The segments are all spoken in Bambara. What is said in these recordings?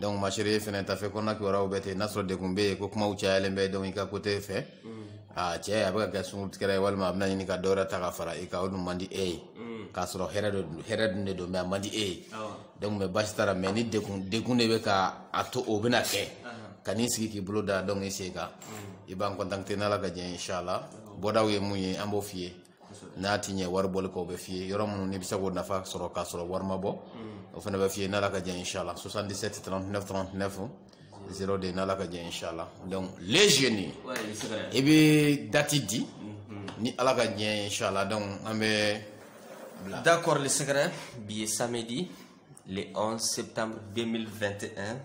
donc ma chérie fɛnɛ tafe kɔnɔna kibaruyaw bɛɛ ten n'a sɔrɔ degun bɛ yen ko kumaw cayalen bɛ donc i ka côté fɛ a cɛ a bɛ ka kɛ sungurutigɛra ye walima a bɛna ɲini ka dɔwɛrɛ ta ka fara i kan o dun man di e ye k'a sɔrɔ hɛrɛ de don hɛrɛ dun de don mais a man di e ye donc mais basi t'a la mais ni degun degun de bɛ ka a to o bɛna kɛ kan'i sigi k'i bolo da donc i sen kan i b'an contacter n'ala ka jɛ ye inchallah bɔdaw ye mun ye an b'o f'i ye n'a ti ɲɛ wari bɔli kɔ o bɛ f'i ye yɔrɔ minnu n'i bɛ se k'o nafa sɔrɔ k'a sɔrɔ wari ma bɔ o fana bɛ f'i ye n'ala ka jɛ inshallah 77 39 39 02 n'ala ka jɛ inshallah donc les jeunes i bɛ dati di ni ala ka jɛ inshallah donc an bɛ d'accord le secret bi ye samedi le 11 septembre 2021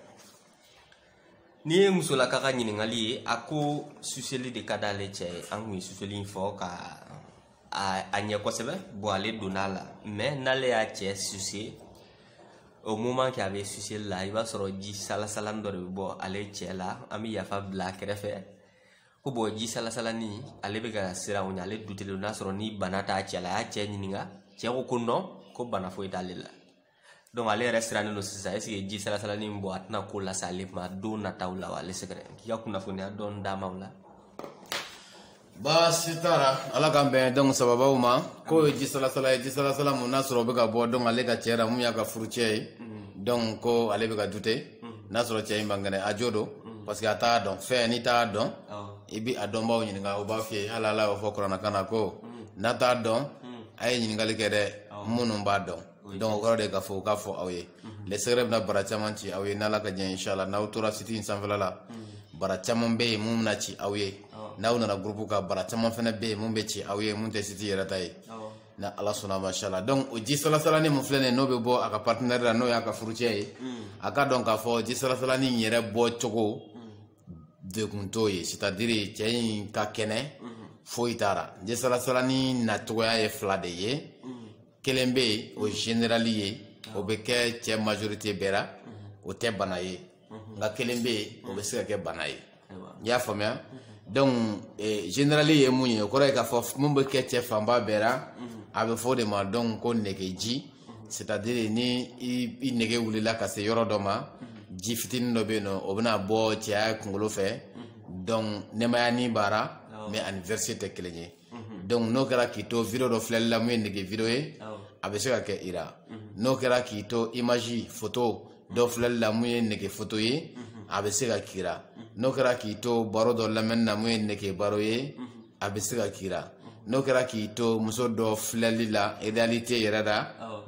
nin ye musolaka ka ɲininkali ye a ko suseli de ka d'ale cɛ ye an kun ye suseli in fɔ ka a ɲɛ kosɛbɛ bon ale donna a la mais n'ale y'a cɛ suse au moment que a bɛ suseli la i b'a sɔrɔ ji salasalani dɔ de bɛ bɔ ale cɛ la an bɛ yafa bila a kɛrɛfɛ ko bon ji salasalani ale bɛ ka siran o ɲɛ ale dutelen n'a sɔrɔ ni bana t'a cɛ la a y'a cɛ ɲininka cɛ ko ko non ko bana foyi t'ale la donc ale yɛrɛ sirannen don sisan est-ce que ji salasalani min bɔ a tɛna ko lase ale ma don nataw la wa le secret k'i ka kunnafoniya dɔɔni d'a ma o la baasi t'a la ala k'an bɛn donc sababuw ma k'o ye ji salasala ye ji salasala mun n'a sɔrɔ o bɛ ka bɔ donc ale ka cɛ la mun y'a ka furucɛ ye donc ko ale bɛ ka dute n'a sɔrɔ cɛ in man kɛnɛ a jo don parce que a t'a dɔn fɛn n'i t'a dɔn i bi a dɔnbaaw ɲininka o b'a f'i ye hali ala y'o fɔ kurana kɔnɔ ko n'a t'a dɔn a ye ɲininkali kɛ dɛ minnu b'a dɔn donc kɔrɔ de k'a fɔ u k'a fɔ aw ye mhm. le secret bɛna bara caman ci aw ye n'ala ka jɛ inshallah n'aw tora siti in sanfɛla la mhm. bara caman bɛ yen mun bɛna ci aw ye n'aw nana gurupu kan bara caman fana bɛ yen mun bɛ ci aw ye mun tɛ siti yɛrɛ ta ye ni ala sɔnna mashala donc o ji salasalani mun filɛ nin ye n'o bɛ bɔ a ka partenaire la n'o y'a ka furucɛ ye mhm. a ka dɔn k'a fɔ ji salasalani in yɛrɛ bɔ cogo degun t'o ye c'est à dire cɛ in ka kɛnɛ foyi t'a la ji salasalani nacogoya ye fila de ye kelen bɛ yen o generali ye o bɛ kɛ cɛ majorité bɛɛ la o tɛ bana ye nka kelen bɛ yen o bɛ se ka kɛ bana ye i y'a faamuya donc eh, generali ye mun ye o kɔrɔ ye k'a fɔ mun bɛ kɛ cɛ fanba bɛɛ la a bɛ fɔ o de ma donc ko negeji c'est à dire ni i nege wulila ka se yɔrɔ dɔ ma ji fitinin dɔ bɛ yen nɔ o bɛna bɔ cɛya kunkolo fɛ donc nɛmayani b'a ra mais a ni verser tɛ kelen ye Mhm. donc n'o kɛra k'i to video dɔ filɛli la mun ye nege video ye a bɛ se ka kɛ i la mhm. n'o kɛra k'i to image foto dɔ filɛli la mun ye nege foto ye mhm. a bɛ se ka k'i la n'o kɛra k'i to baro dɔ lamɛnni na mun ye nege baro ye a bɛ se ka k'i la n'o kɛra k'i to muso dɔ filɛli la réalité yɛrɛ la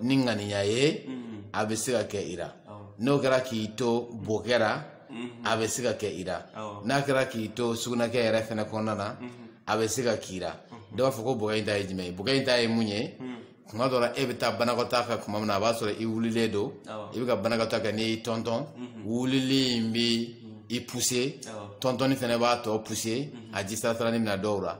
ni ŋaniya ye a bɛ se ka kɛ i la n'o kɛra k'i to bokɛ la mhm. a bɛ se ka kɛ i la n'a kɛra k'i to sugunɛkɛ yɛrɛ fɛnɛ kɔnɔna na mhm. a bɛ se ka k'i la mhm. dɔw b'a fɔ ko bokɛ in ta ye jumɛn ye bokɛ in ta ye mun ye tuma dɔ la e bɛ taa banakɔtaa kɛ tuma min na a b'a sɔrɔ i wulilen don i bɛ ka banakɔtaa kɛ n'i y'i tɔntɔn wulili in bɛ i pousser tɔntɔnni fɛnɛ b'a tɔ pousser a ji salasalani mina dɔw la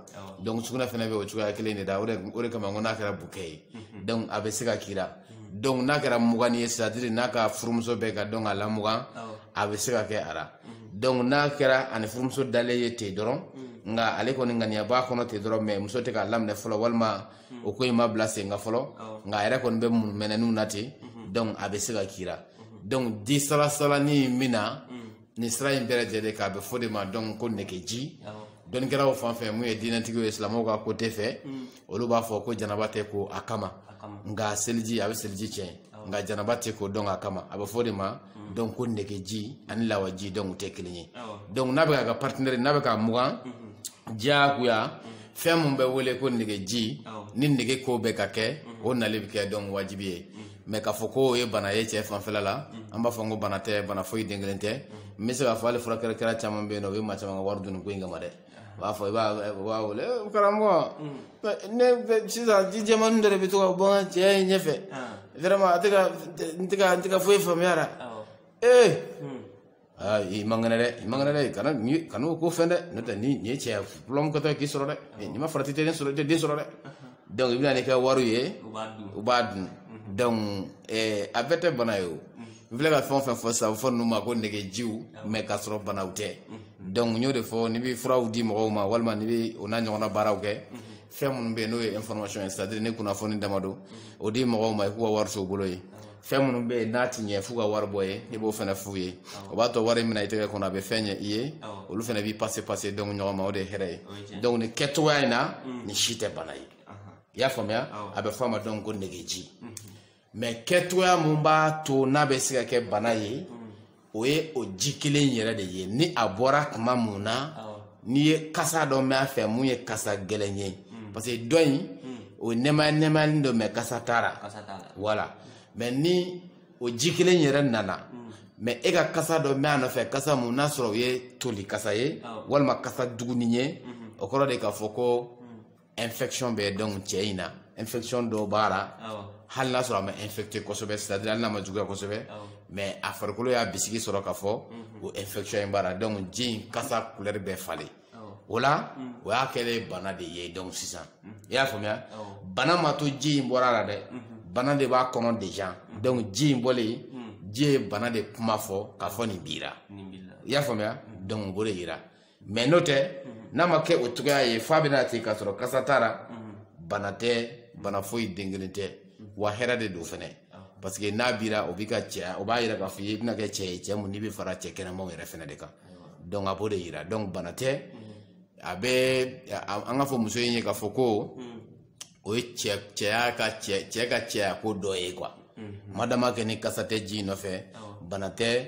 donc sugunɛ fɛnɛ bɛ o cogoya kelen de la o de kama n ko n'a kɛra bokɛ ye donc a bɛ se ka k'i la donc n'a kɛra muganni ye c'est-à-dire n'a ka furumuso bɛ ka donc a lamugan a bɛ se ka kɛ a la donc n'a kɛra a ni furumuso dalen ye ten dɔrɔn nka ale kɔni ŋaniya b'a kɔnɔ ten dɔrɔn mais muso tɛ k'a laminɛ fɔlɔ walima o ko in ma bila senka fɔlɔ nka a yɛrɛ kɔni bɛ munumɛnɛniw na ten donc a bɛ se ka k'i la donc ji salasalani min na nin sira in bɛɛ lajɛlen kan a bɛ fɔ o de ma donc ko negeji dɔnnikɛlaw fan fɛ mun ye diinɛtigiw ye silamɛw ka côté fɛ mm. olu b'a fɔ ko janaba tɛ ko a kama nka seliji a bɛ seliji tiɲɛ nka janaba tɛ ko donc a kama a bɛ fɔ o de ma mm. donc ko negeji ani lawaji donc u tɛ kelen ye donc n'a bɛ k'a ka partenaire n'a bɛ k'a mugan mm-hmm. diyagoya mm. fɛn min bɛ wele ko negeji ni nege ko bɛ ka kɛ mm-hmm. o nali bɛ kɛ donc wajibi ye mm-hmm. mais k'a fɔ ko o ye bana ye cɛ fanfɛla la mm-hmm. an b'a fɔ n ko bana tɛ bana foyi den kelen tɛ mm-hmm. n bɛ se k'a fɔ hali furakɛla kɛla caman bɛ yen n'u bɛ maa caman ka wari dun o ko in kama dɛ u b'a fɔ i b'a wele eh, karamɔgɔ mm. ne sisan ji jɛmani dɔ de bɛ to ka bɔ n ka cɛya ɲɛfɛ ah. vraiment a tɛ ka n tɛ ka foyi faamuya a la ee eh, mm. aa i man kɛnɛ dɛ i man kɛnɛ dɛ kana ni kana o ko fɛn dɛ n'o tɛ ni nin ye cɛya problème kɛtɔ ye k'i sɔrɔ dɛ n'i ma farati i tɛ den sɔrɔ i tɛ den sɔrɔ dɛ donc i bɛ na n'i ka wariw ye u b'a dun u b'a dun donc eh, a bɛɛ tɛ bana ye o n filɛ ka fɛn o fɛn fɔ sisan a bɛ fɔ ninnu ma ko negejiw mais k'a sɔrɔ banaw tɛ donc n y'o de fɔ n'i bɛ furaw di mɔgɔw ma walima n'i bɛ o n'a ɲɔgɔnna baaraw kɛ fɛn minnu bɛ yen n'o ye information ye c'est-à-dire ni kunnafoni dama don o di mɔgɔw ma i k'u ka wari to u bolo yen fɛn minnu bɛ yen n'a tɛ ɲɛ f'u ka wari bɔ yen i b'o fana f'u ye o b'a to wari min na i tɛgɛ kɔnɔ a bɛ fɛn ɲɛ i ye olu fana b'i passer passer donc ɲɔgɔn ma o de ye hɛrɛ ye donc nin kɛcogoya in na nin si tɛ bana ye i y'a faamuya a bɛ fɔ a ma donc ko negeji mais kɛcogoya mun b'a to n'a bɛ se ka kɛ bana ye o ye o ji kelen yɛrɛ de ye ni a bɔra tuma mun na n'i ye kasa dɔ mɛn a fɛ mun ye kasa gɛlɛn ye parce que dɔ in o nɛmaya nɛmayalen don mais kasa t'a la voilà mais ni o ji kelen yɛrɛ nana mais e ka kasa dɔ mɛn a nɔfɛ kasa mun n'a sɔrɔ o ye toli kasa ye walima kasa jugunin ye o kɔrɔ de k'a fɔ ko infection bɛ donc cɛ in na infection dɔ b'a la hali n'a sɔrɔ a ma infecté kosɛbɛ c'est à dire hali n'a ma juguya kosɛbɛ mais a farikolo y'a bisigi sɔrɔ k'a fɔ mhm. o infection in b'a la donc ji in kasa couleur bɛ falen o la mm. o y'a kɛlen bana de ye donc sisan mm. i y'a faamuya bana ma to ji in bɔra la dɛ mm-hmm. bana de b'a kɔnɔ déjà mm. donc ji in bɔlen ji ye bana de kuma fɔ k'a fɔ nin b'i la i y'a faamuya donc a b'o de yira mais n'o tɛ n'a ma kɛ o cogoya ye f'a bɛna ten k'a sɔrɔ kasa t'a la bana tɛ bana foyi den kelen tɛ wa hɛrɛ de don fɛnɛ parce que n'a b'i la o b'i ka cɛya o b'a yira k'a fɔ i bɛna kɛ cɛ ye cɛ mun n'i bɛ fara cɛ kɛnɛmaw yɛrɛ fɛnɛ de kan donc a b'o de yira donc bana tɛ a bɛ a- an k'a fɔ muso in ye k'a fɔ ko o ye cɛ cɛya ka cɛ cɛ ka cɛya ko dɔ ye quoi madama kɛ ni kasa tɛ ji in nɔfɛ bana tɛ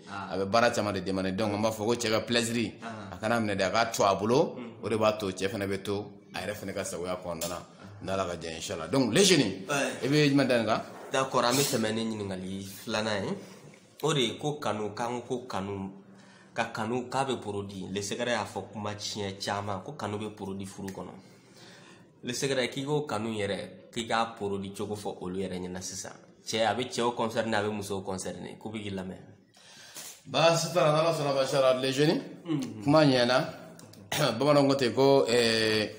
a bɛ baara caman de demande donc an b'a fɔ ko cɛ ka plaisiri a kan'a minɛ dɛ a k'a to a bolo o de b'a to cɛ fana bɛ to a yɛrɛ fana ka sagoya kɔnɔna na n'ala ka jɛn inshallah donc le jeune i bɛ jumɛn da nin kan d'accord an bɛ tɛmɛ ni ɲininkali filanan ye o de ye ko kanu k'an ko kanu ka kanu k'a bɛ produit le secret y'a fɔ kuma siɲɛ caman ko kanu bɛ produit furu kɔnɔ le secret k'i k'o kanu yɛrɛ k'i k'a produit cogo fɔ olu yɛrɛ ɲɛna sisan cɛ a bɛ cɛw concerné a bɛ musow concerné k'u bɛ k'i lamɛn baasi t'a la n'ala sɔnna basara le jeune mm-hmm. kuma ɲɛna bamananw ko ten ko eh,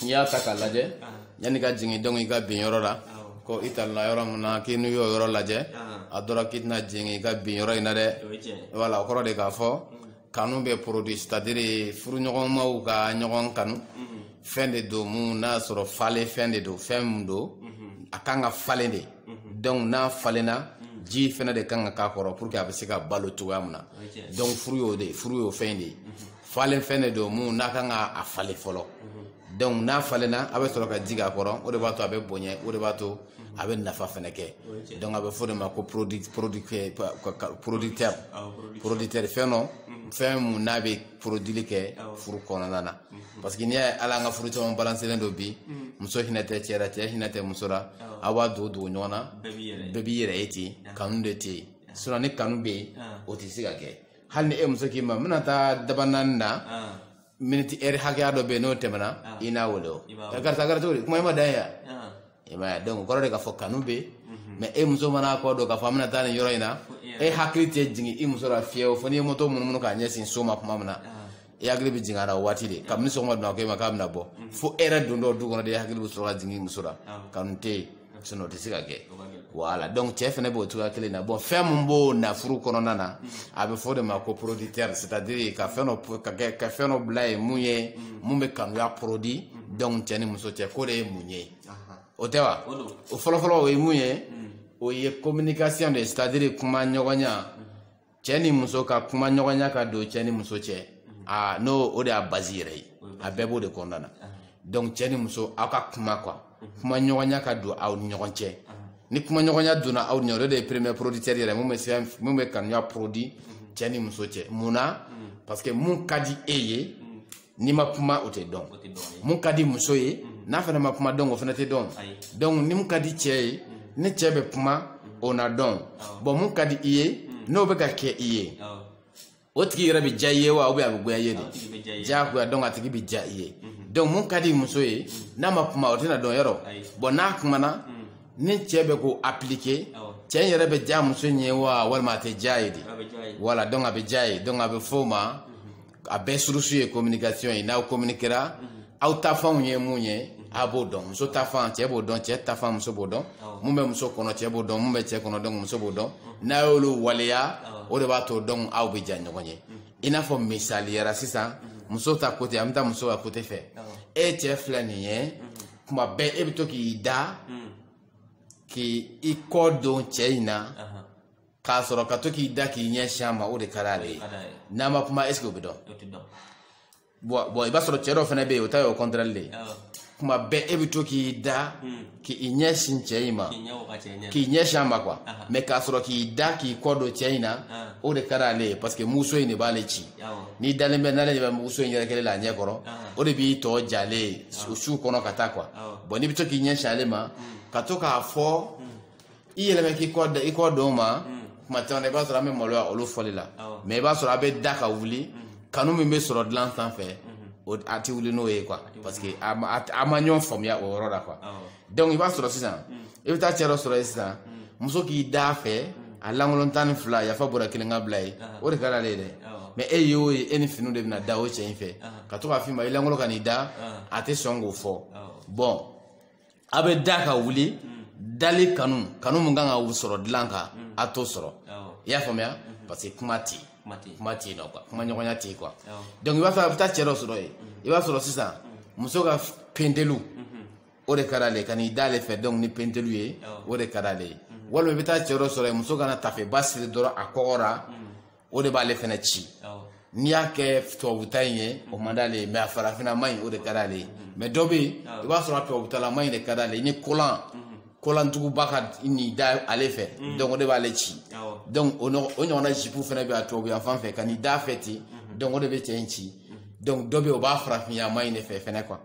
n'i y'a ta k'a lajɛ ah. yann'i ka jigin donc i ka bin yɔrɔ la ko i talonna yɔrɔ min na k'i n'i y'o yɔrɔ lajɛ ah. a dɔra k'i tɛna jigin i ka bin yɔrɔ in na dɛ voilà o kɔrɔ de k'a fɔ mm. kanu bɛ produit c'est-à-dire furuɲɔgɔnmaw ka ɲɔgɔn kanu mhm. fɛn de don mun n'a sɔrɔ falen fɛn de don fɛn mun don mhm. a kan ka falen de mhm. donc n'a falenna ji fɛnɛ de kan ka k'a kɔrɔ pour que a bɛ se ka balo cogoya min na donc furu y'o de furu y'o fɛn de ye falen fɛn de don mun n'a kan ka a falen fɔlɔ donc n'a falenna a bɛ sɔrɔ ka ji k'a kɔrɔ o de b'a to a bɛ bonya o de b'a to a bɛ nafa fana kɛ donc a bɛ fɔ de ma ko producteur producteur fɛn don fɛn mun n'a bɛ produili kɛ furu kɔnɔna na parce que n'i y'a ye ala an ka furu caman balanselen don bi muso hinɛ tɛ cɛ la cɛ hinɛ tɛ muso la aw b'a dogo dogo ɲɔgɔn na bɛɛ b'i yɛrɛ ye ten kanu de tɛ yen sinon ni kanu bɛ yen o tɛ se ka kɛ hali ni e muso k'i ma n bɛna taa dabanani na minute heure hakɛya dɔ bɛ yen n'o tɛmɛna ah. i n'a wele o eh, karisa kɛra cogo di kuma i ma dan ye yan ah. i ma ye donc o kɔrɔ de k'a fɔ kanu bɛ yen mhm. mais e muso mana kɔ don k'a fɔ an bɛna taa nin yɔrɔ in na e hakili tɛ jigin i muso la fiyewu fo n'i ye moto munumunu k'a ɲɛsin so ma kuma min na ah. i hakili bɛ jigin a la o waati de kabini sɔgɔmada n'a ko e ma k'a bɛna bɔ mhm. fo e yɛrɛ dontɔ du kɔnɔ de i hakili bɛ sɔrɔ ka jigin i muso la kanu tɛ yen sinon tɛ se ka kɛ voilà donc cɛ fana b'o cogoya kelen na bon fɛn min b'o na furu kɔnɔna na a bɛ f'o de ma ko producteur c'est-à-dire ka fɛn ka fɛn dɔ bila ye mun ye mun bɛ kanuya produit donc cɛ ni muso cɛ k'o de ye mun ye o tɛ wa o fɔlɔfɔlɔ o ye mun ye o ye communication de ye c'est-à-dire kuma ɲɔgɔnya cɛ ni muso ka kuma ɲɔgɔnya ka don cɛ ni muso cɛ a n'o o de y'a base yɛrɛ ye a bɛɛ b'o de kɔnɔna na donc cɛ ni muso aw ka kuma quoi kuma ɲɔgɔnya ka don aw ni ɲɔgɔn cɛ ni kuma ɲɔgɔnya donna aw ni ɲɔgɔn o de ye premier producteur yɛrɛ mun bɛ kanuya produit cɛ ni muso cɛ mun na parce que mun ka di e ye n'i ma kuma o tɛ dɔn mun ka di muso ye n'a fana ma kuma donc o fana tɛ dɔn donc ni mun ka di cɛ ye ni cɛ bɛ kuma o na dɔn bon mun ka di i ye n'o bɛ ka kɛ i ye o tigi yɛrɛ bɛ diya i ye wa ou bien a bɛ goya i ye de diyagoya donc a tigi bɛ diya i ye donc mun ka di muso ye n'a ma kuma o tɛna dɔn yɔrɔ bon n'a kumana ni cɛ bɛ k'o appliquer cɛ in yɛrɛ bɛ diya muso in ye wa walima a tɛ diy'a ye dɛ voilà donc a bɛ diy'a ye donc a bɛ f'o ma a bɛɛ source ye communication ye n'aw communiquera aw ta fanw ye mun ye a b'o dɔn muso ta fan cɛ b'o dɔn cɛ ta fan muso b'o dɔn mun bɛ muso kɔnɔ cɛ b'o dɔn mun bɛ cɛ kɔnɔ donc muso b'o dɔn n'a y'olu waleya o de b'a to donc aw bɛ diya ɲɔgɔn ye i n'a fɔ misaliya la sisan muso ta côté an bɛ taa muso ka côté fɛ e cɛ filɛ nin ye kuma bɛɛ e bɛ to k'i da k'i kɔ don cɛ in na k'a sɔrɔ ka to k'i da k'i ɲɛ sin a ma o de ka d'ale ye n'a ma kuma est ce que o bɛ dɔn bon i b'a sɔrɔ cɛ dɔ fana bɛ yen o ta ye o contraire de ye kuma bɛɛ e bɛ to k'i da hmm. k'i ɲɛ sin cɛ in ma k'i ɲɛ sin a ma quoi mais k'a sɔrɔ k'i da k'i kɔ don cɛ in na o de ka d'ale ye parce que muso in de b'ale ci n'i dalen bɛ n'ale de bɛ muso in yɛrɛ kelen la a ɲɛ kɔrɔ o de b'i to diy'ale ye o su kɔnɔ ka taa quoi bon n'i bɛ to k'i ɲɛ sin ale ma hmm. ka to k'a fɔ hmm. i yɛlɛmɛ k'i kɔ da i kɔ don n ma kuma caman i b'a sɔrɔ an bɛ maloya olu fɔli la mais i b'a sɔrɔ a bɛ da ka wuli kanu min bɛ sɔrɔ dilan sanfɛ o a tɛ wuli n'o ye quoi parce que a ma a ma ɲɔgɔn faamuya o yɔrɔ la quoi donc i b'a sɔrɔ sisan i bɛ taa cɛ dɔ sɔrɔ yen sisan muso k'i d'a fɛ a lankolon tan ni fila yafa bɔra kelen ka bila yen o de ka d'ale ye dɛ mais e ye o ye e ni finiw de bɛna da o cɛ in fɛ ka to k'a f'i ma i lankolon ka n'i da a tɛ sɔn k'o fɔ bon a bɛ da ka wuli dali kanu kanu min kan ka sɔrɔ dilan kan a t'o sɔrɔ i y'a faamuya parce que kuma tɛ yen kuma tɛ yen nɔ quoi kuma ɲɔgɔnya tɛ yen quoi donc i b'a fɛ a bɛ taa cɛ dɔ sɔrɔ yen i b'a sɔrɔ sisan muso ka pentelu o de ka d'ale ye ka n'i d'ale fɛ donc ni pentelu ye o de ka d'ale ye walima i bɛ taa cɛ dɔ sɔrɔ yen muso ka na taafeba siri dɔrɔn a kɔgɔ la o de b'ale fɛnɛ ci n'i y'a kɛ tubabuta in ye o man d'ale ye mais a farafinama in o de ka d'ale ye mais dɔ bɛ yen i b'a sɔrɔ a tubabutalama in de ka d'ale ye ni kolan kolantuguba ka n'i da ale fɛ mm. donc o de b'ale ci donc o ɲɔgɔnna jipu fana bɛ a tubabuya fan fɛ ka n'i da fɛ ten mm-hmm. donc o de bɛ cɛ in ci mm-hmm. donc dɔ bɛ yen o b'a farafinyama in de fɛ fɛnɛ quoi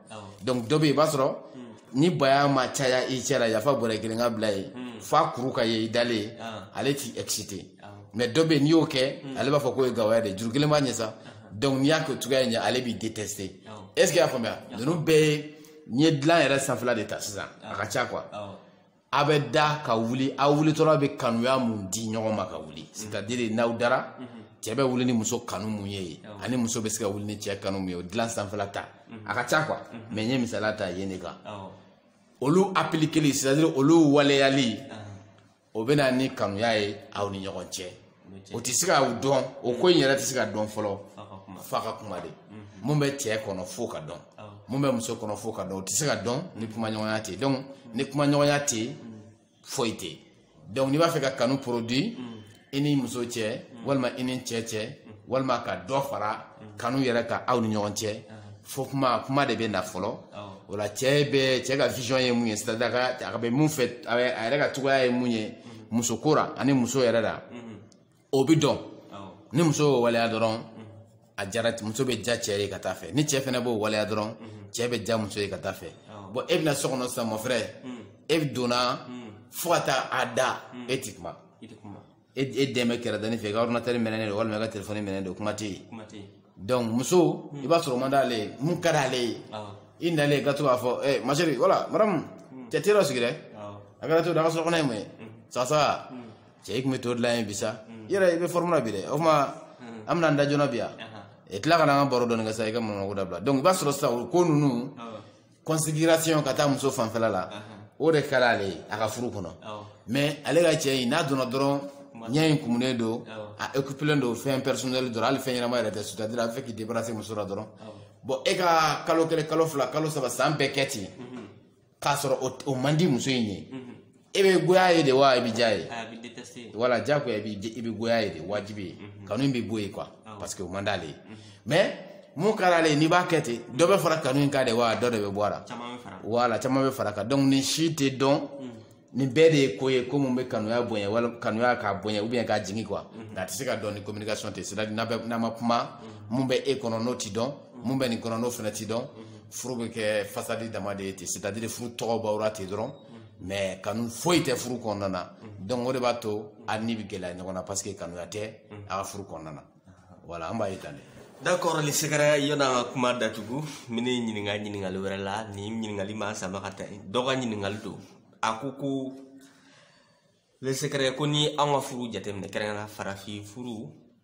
donc dɔ bɛ yen i b'a sɔrɔ mm. ni baya ma caya i cɛ la yafa bɔrɛ kelen ka bila ye mm. f'a kuru ka ye i dalen ale ti exciter mais dɔ bɛ yen n'i y'o kɛ mm. ale b'a fɔ k'o ye gawaya de juru kelen b'a ɲɛ sa donc n'i y'a kɛ o cogoya in ɲɛ ale b'i détester est ce que i y'a faamuya ninnu bɛɛ ye n'i ye dilan yɛrɛ sanfɛla de ta sisan a ka ca quoi a bɛ da ka wuli aw wulitɔla bɛ kanuya mun di ɲɔgɔn ma ka wuli mm. c'est à dire n'aw dara mm-hmm. cɛ bɛ wuli ni muso kanu mun ye yen ani muso bɛ se ka wuli ni cɛ kanu mun ye o dilan sanfɛla ta mm-hmm. a ka ca quoi mm-hmm. mais n ye misaliya ta yen de kan olu appliqueli c'est à dire olu waleyali o bɛ na ni kanuya ye aw ni ɲɔgɔn cɛ o tɛ se ka dɔn o ko in yɛrɛ tɛ se ka dɔn fɔlɔ f'a ka kuma de mun bɛ cɛ kɔnɔ f'o ka dɔn mun bɛ muso kɔnɔ f'o ka dɔn o tɛ se ka dɔn ni kumaɲɔgɔnya tɛ donc ni kumaɲɔgɔnya tɛ foyi tɛ donc n'i b'a fɛ ka kanu produit i ni muso cɛ walima i ni cɛ cɛ walima ka dɔ fara kanu yɛrɛ kan aw ni ɲɔgɔn cɛ fo kuma de bɛ na fɔlɔ o la cɛ bɛ cɛ ka vision ye mun ye c'est à dire a bɛ mun fɛ a yɛrɛ ka cogoya ye mun ye muso ko la ani muso yɛrɛ la o bɛ dɔn ni muso y'o waleya dɔrɔn a jara muso bɛ ja cɛ ye ka taa fɛ ni cɛ fana b'o waleya dɔrɔn cɛ bɛ ja muso ye ka taa fɛ bon e bɛ na so kɔnɔ sisan mon frère e donna fo ka taa a da e ti kuma e e de bɛ kɛrɛda nin fɛ i ka ordinateur minɛnen don walima i ka telefɔni minɛnen don kuma tɛ yen kuma tɛ yen donc muso i b'a sɔrɔ o man d'ale ye mun ka d'ale ye awɔ i nalen ka to k'a fɔ eh, ma chérie wala madame cɛ te dɔ sigi dɛ awɔ a kɛra to da ka sɔrɔ kɔnɔ ye mun ye sasa cɛ i tun bɛ to dilan yen bi sa i yɛrɛ i bɛ forme na bi dɛ o tuma an bɛna an da joona bi yan ahan i tila ka na an ka baro dɔɔni kɛ sa i ka manamanako dabila donc i b'a sɔrɔ sisan o ko ninnu awɔ considération ka taa muso fanfɛla la o de ka d'ale ye a ka furu kɔnɔ mais ale ka cɛ in n'a donna dɔrɔn ɲɛ in kumunen don a occupelen don fɛn personnel dɔrɔn hali fɛn ɲɛnama yɛrɛ tɛ c'est-à-dire a bɛ fɛ k'i débarrasser muso la dɔrɔn bon e ka kalo kelen kalo fila kalo saba san bɛɛ kɛ ten k'a sɔrɔ o man di muso in ye e bɛ goya ye de wa i bɛ diya ye voilà diyagoya i bɛ goya ye de wajibi ye mhm. kanu bɛ bɔ yen quoi parce que o man d'ale ye mhm. mais mun ka d'ale ye n'i b'a kɛ ten dɔ bɛ fara kanu in kan de wa dɔ de bɛ bɔ a la voilà caman bɛ fara kan donc nin si tɛ dɔn mhm. nin bɛɛ de ye ko ye ko mun bɛ kanuya bonya wala kanuya k'a bonya ou bien k'a jigin quoi nka a tɛ se ka dɔn ni communication tɛ c'est à dire n'a ma kuma mun bɛ e kɔnɔ n'o tɛ dɔn mun bɛ nin kɔnɔ n'o fana tɛ dɔn furu bɛ kɛ façade dama de ye ten c'est à dire furu tɔgɔ b'aw la ten dɔrɔn. mais kanu foyi tɛ furu kɔnɔna na mhm. donc o de b'a to a ni bɛ gɛlɛya ɲɔgɔn na parce que kanuya tɛ mhm. a ka furu kɔnɔna na voilà an b'a ye tan de d'accord le secret yanni an ka kuma datugu min ne ɲininka ɲininkali wɛrɛ la ni ɲininkali ma sama ka taa dɔ ka ɲininkali don a ko ko le secret ko ni an ka furu jateminɛ kɛrɛnkɛrɛn farafin furu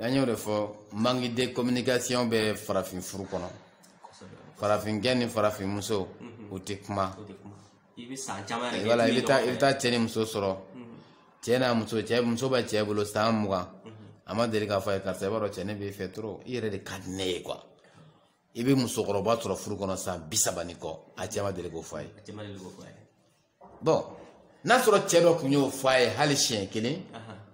an y'o de fɔ manque de communication bɛ farafin furu kɔnɔ farafinkɛ ni farafin muso u tɛ kuma i bɛ san caman yɛrɛ voilà i bɛ taa i bɛ taa cɛ ni muso sɔrɔ cɛ n'a muso cɛ muso bɛ cɛ bolo san mugan a ma deli k'a fɔ a ye karisa i b'a dɔn cɛ ne b'i fɛ trop i yɛrɛ de ka di ne ye quoi i bɛ musokɔrɔba sɔrɔ furu kɔnɔ san bi saba ni kɔ a cɛ ma deli k'o fɔ a ye a cɛ ma deli k'o fɔ a ye bon n'a sɔrɔ cɛ dɔ tun y'o fɔ a ye hali siɲɛ kelen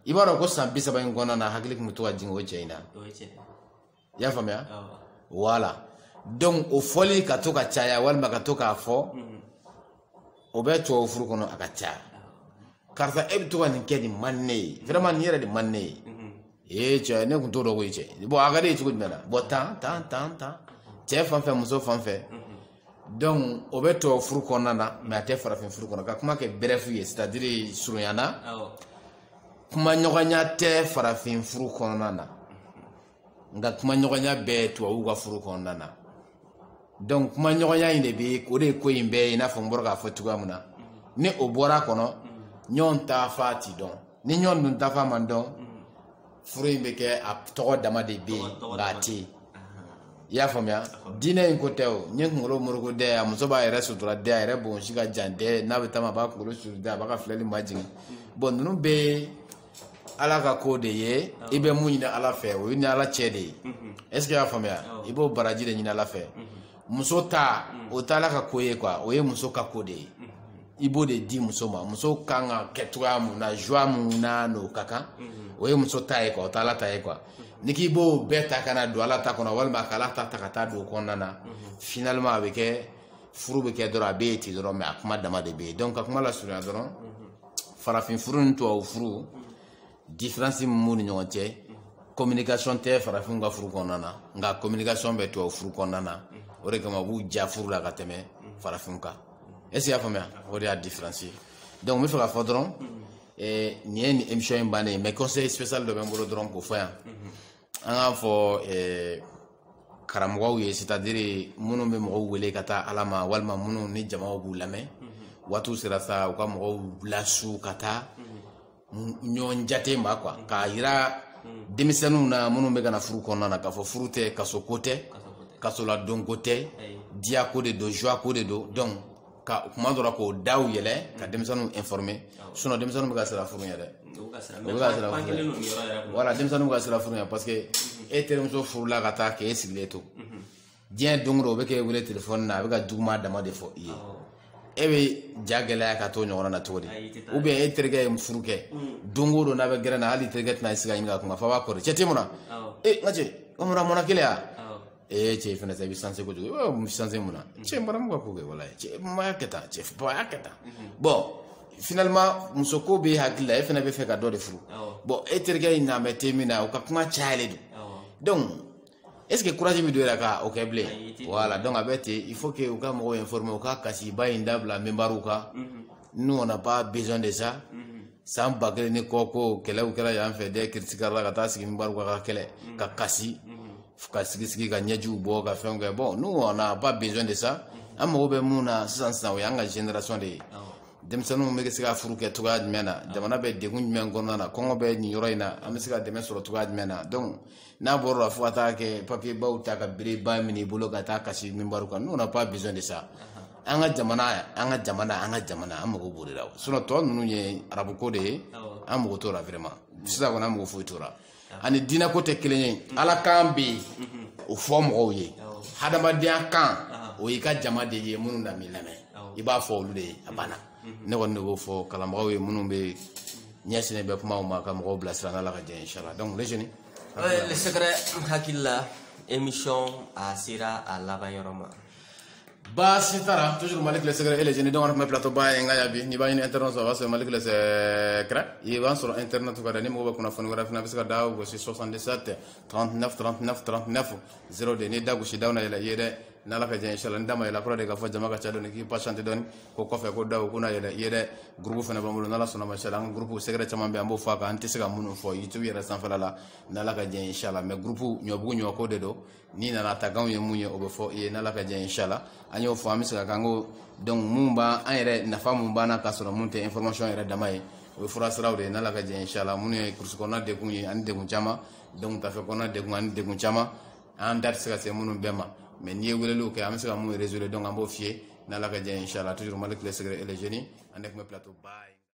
i b'a dɔn ko san bi saba in kɔnɔna na hakili tun bɛ to ka jigin o cɛ in na i y'a faamuya voilà donc o fɔli ka to ka caya walima ka to k'a fɔ mhm. o bɛ tubabu furu kɔnɔ a ka caya karisa e bɛ to ka nin kɛ nin man ne ye vraiment nin yɛrɛ de man ne ye mhm. ee cɛ ne tun t'o dɔn koyi cɛ bon a ka d'i ye cogo jumɛn na bon tan tan tan tan cɛ fan fɛ muso fan fɛ mhm. donc o bɛ tubabu furu kɔnɔna na mais a tɛ farafin furu kɔnɔ ka kuma kɛ bref ye c'est à dire surunyana kuma ɲɔgɔnya tɛ farafin furu kɔnɔna na nka kuma ɲɔgɔnya bɛ tubabuw ka furu kɔnɔna na donc kuma ɲɔgɔnya in de bɛ o de ye ko in bɛɛ ye i n'a fɔ n bɔra k'a fɔ cogoya min na ni o bɔra kɔnɔ ɲɔgɔn taafan ti dɔn ni ɲɔgɔn dun taafan ma dɔn furu in bɛ kɛ a tɔgɔ dama de bɛ yen nka a tɛ yen i y'a faamuya diinɛ in ko tɛ o n ye kunkolo moroko dɛ a muso b'a yɛrɛ sutura dɛ a yɛrɛ bonsi ka jan dɛ n'a bɛ taama a b'a kunkolo suru dɛ a b'a ka filɛli majigin bon ninnu bɛɛ ala ka ko de ye i bɛ mun ɲini ala fɛ o y'i ni ala cɛ de ye est ce que i y'a faamuya i b'o baraji de ɲini ala fɛ muso ta o t'ala ka ko ye quoi o ye muso ka ko de ye i b'o de di muso ma muso kan ka kɛ cogoya mun na joie mun na n'o ka kan o ye muso ta ye quoi o tɛ ala ta ye quoi n'i k'i b'o bɛɛ ta ka na don ala ta kɔnɔ walima ka ala ta ta ka taa don o kɔnɔna na finalement a bɛ kɛ furu bɛ kɛ dɔrɔn a bɛ ye ten dɔrɔn mais a kuma dama de bɛ yen donc ka kuma lasurunya dɔrɔn farafin furu ni tubabu furu différence min b'u ni ɲɔgɔn cɛ communication tɛ farafinw ka furu kɔnɔna na nka communication bɛ tubabu furu kɔnɔna na o de kama u b'u ja furu la ka tɛmɛ farafinw kan est ce que i y'a faamuya o de y'a différence ye donc n bɛ fɛ k'a fɔ dɔrɔn eh, nin ye nin émission in bannen ye mais conseil spécial dɔ bɛ n bolo dɔrɔn k'o fɔ yan an k'a fɔ eh, karamɔgɔw ye c'est à dire minnu bɛ mɔgɔw wele ka taa ala ma walima minnu ni jamaw b'u lamɛn waatiw sera sa u ka mɔgɔw lasu ka taa ɲɔgɔn jate ma quoi k'a yira denmisɛnninw na minnu bɛ ka na furu kɔnɔna na k'a fɔ furu tɛ kaso ko tɛ kasoladon ko tɛ diya ko de don joie ko de don donc ka kuma dɔ la k'o daw yɛlɛ ka denmisɛnninw informer sinon denmisɛnninw bɛ ka siran furu ɲɛ dɛ u bɛ ka siran furu ɲɛ voilà denmisɛnninw bɛ ka siran furu ɲɛ parce que e terimuso furula ka taa k'e sigilen to diɲɛ don o don o bɛ k'e wele telefɔni na a bɛ ka juguman dama de fɔ i ye e bɛ ja gɛlɛya ka t'o ɲɔgɔn na cogo di ou bien e terikɛ ye furu kɛ don o don n'a bɛ gɛrɛ na hali terikɛ tɛna sigi ka ɲininka a kun na f'a b'a kɔrɔ cɛ tɛ mun na ee n ka cɛ o mun na mɔna kelen ya ee cɛ fana sa i bɛ sanse kojugu i b'a sanse mun na cɛ n bɔra mun ka ko kɛ wala cɛ n b'a kɛ tan cɛ bɔn a y'a kɛ tan bon finalement muso ko bɛ hakili la e fana bɛ fɛ ka dɔ de furu bon e terikɛ in na mɛ te min na o ka kuma cayalen don donc est ce que courage min don yɛrɛ ka o kɛ bilen voilà donc a bɛ ten il faut que u ka mɔgɔw informer u ka kasiba in dabila minbariw kan nous on n'a pas besoin de ça san ba kelen ni kɔ ko kɛlɛw kɛra yan fɛ dɛ kiritigɛla ka taa sigi minbariw kan ka kɛlɛ ka kasi ka sigi sigi ka ɲɛjiw bɔ ka fɛnw kɛ bon nous on n'a pas besoin de ça an mago bɛ mun na sisan sisan o y'an ka génération de ye denmisɛnninw bɛ se ka furu kɛ cogoya jumɛn na jamana bɛ degun jumɛn kɔnɔna na kɔngɔ bɛ nin yɔrɔ in na an bɛ se ka dɛmɛ sɔrɔ cogoya jumɛn na donc n'a bɔra la fo ka taa kɛ papiyebaw ta ka bereba minɛ i bolo ka taa kasi minbari kan nous on n'a pas besoin de ça an ka jamana an ka jamana an ka jamana an mago b'o de la sinon tɔ ninnu ye arabuko de ye an mago t'o la vraiment sisan kɔni an mago foyi t'o la ani diinɛko tɛ kelen ye ala kan bɛ yen o fɔ mɔgɔw ye hadamadenya kan o y'i ka jama de ye minnu na m'i lamɛn i b'a fɔ olu de ye a banna ne kɔni de b'o fɔ kalanbagaw ye minnu bɛ ɲɛsinnen bɛ kumaw ma ka mɔgɔw bilasira n'ala ka jɛ inshala donc les jeunes le secret n hakili la émission a sera a laban yɔrɔ ma baasi tara toujours malick le secret et les jeunes donc an tun bɛ plateau ba ye n ka ya bi n'i b'a ɲini internet sɔrɔ o b'a sɔrɔ malick le secret i b'an sɔrɔ internet kan dɛ ni mɔgɔ bɛ kunnafoni wɛrɛ fana bɛ se ka da gosi 77 39 39 39 02 n'i da gosi daw na yɛlɛ i ye dɛ n'ala ka jɛ inshallah ni da ma yɛlɛ a kɔrɔ de k'a fɔ jama ka ca dɔɔni k'i patienter dɔɔni ko kɔfɛ ko daw ko na yɛlɛ i ye dɛ gurupu fana b'an bolo n'ala sɔnna mashala an ka gurupu secret caman bɛ an b'o fɔ a kan an tɛ se ka minnu fɔ youtube yɛrɛ sanfɛla la n'ala ka jɛ inshala mais gurupu ɲɔbugu ɲɔko de don n'i nana ta kanw ye mun ye o bɛ fɔ i ye n'ala ka jɛ inshala an y'o fɔ an bɛ se ka kan ko donc mun b'an an yɛrɛ nafa mun b'an na k'a sɔrɔ mun tɛ information yɛrɛ dama ye o ye fura siraw de ye n'ala ka jɛ inshala minnu ye kurusi kɔnɔna degun ye ani degun caman donc tafe kɔnɔna degun ani degun caman an da tɛ se ka se minnu bɛɛ ma mais n'i ye weleliw kɛ an bɛ se ka mun résoudre donc an b'o f'i ye n'ala ka jɛ inchallah toujours malick le secret et les jeunes an de tun bɛ plateau ba